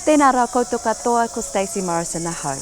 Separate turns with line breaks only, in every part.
Tēnā rā koutou katoa ko Stacey Morrison ahau.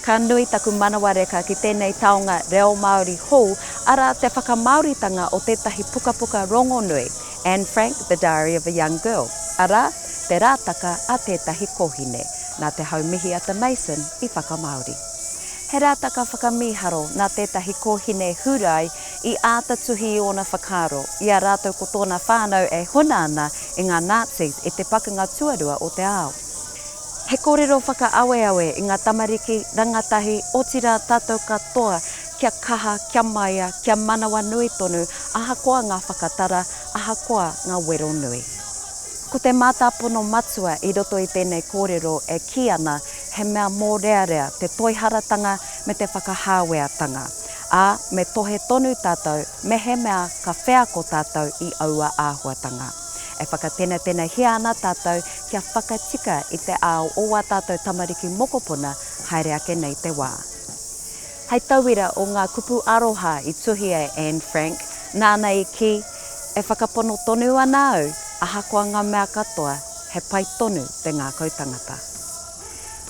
Ka nui taku manawa reka ki tēnei taonga reo Māori hou, arā te whakamāoritanga o tētahi pukapuka rongonui, Anne Frank, The Diary of a Young Girl, arā, te rātaka a tētahi kōhine, nā te hau mihi a te Mason i whakamāori. He rātaka whakamīharo nā tētahi kōhine Hūrai i āta tuhi i ōna whakaaro, i a rātou ko tōna whānau e huna ana e ngā Nazis i te pakanga tuarua o te ao. He kōrero whakaaweawe i ngā tamariki, rangatahi, otirā tātou katoa kia kaha, kia maia, kia manawanui tonu ahakoa ngā whakatara, ahakoa ngā wero nui. Ko te mātāpono matua i roto i tēnei kōrero e kī ana he mea mōrearea te toiharatanga me te whakahāweatanga, ā, me tohe tonu tātou mehemea ka wheako tātou i aua āhuatanga. E whakatenetenehia ana tātou kia whakatika i te ao o wā tātou tamariki mokopuna haere ake nei te wā. Hei tauira o ngā kupu aroha i tuhia e Anne Frank, nāna i kī, E whakapono tonu ana au, ahakoa ngā mea katoa, he pai tonu te ngākau tangata.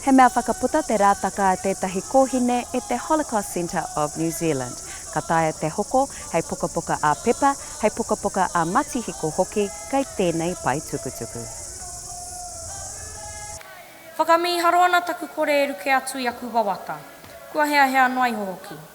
He mea whakaputa te rātaka a tētahi kōhine e te Holocaust Centre of New Zealand. Ka taea te hoko hei pukapuka ā-pepa, hei pukapuka ā-matihiko hoki kei tēnei pae tukutuku.
Whakamīharo ana taku kore e ruke atu i aku wawata. Kua heahea noa iho hoki.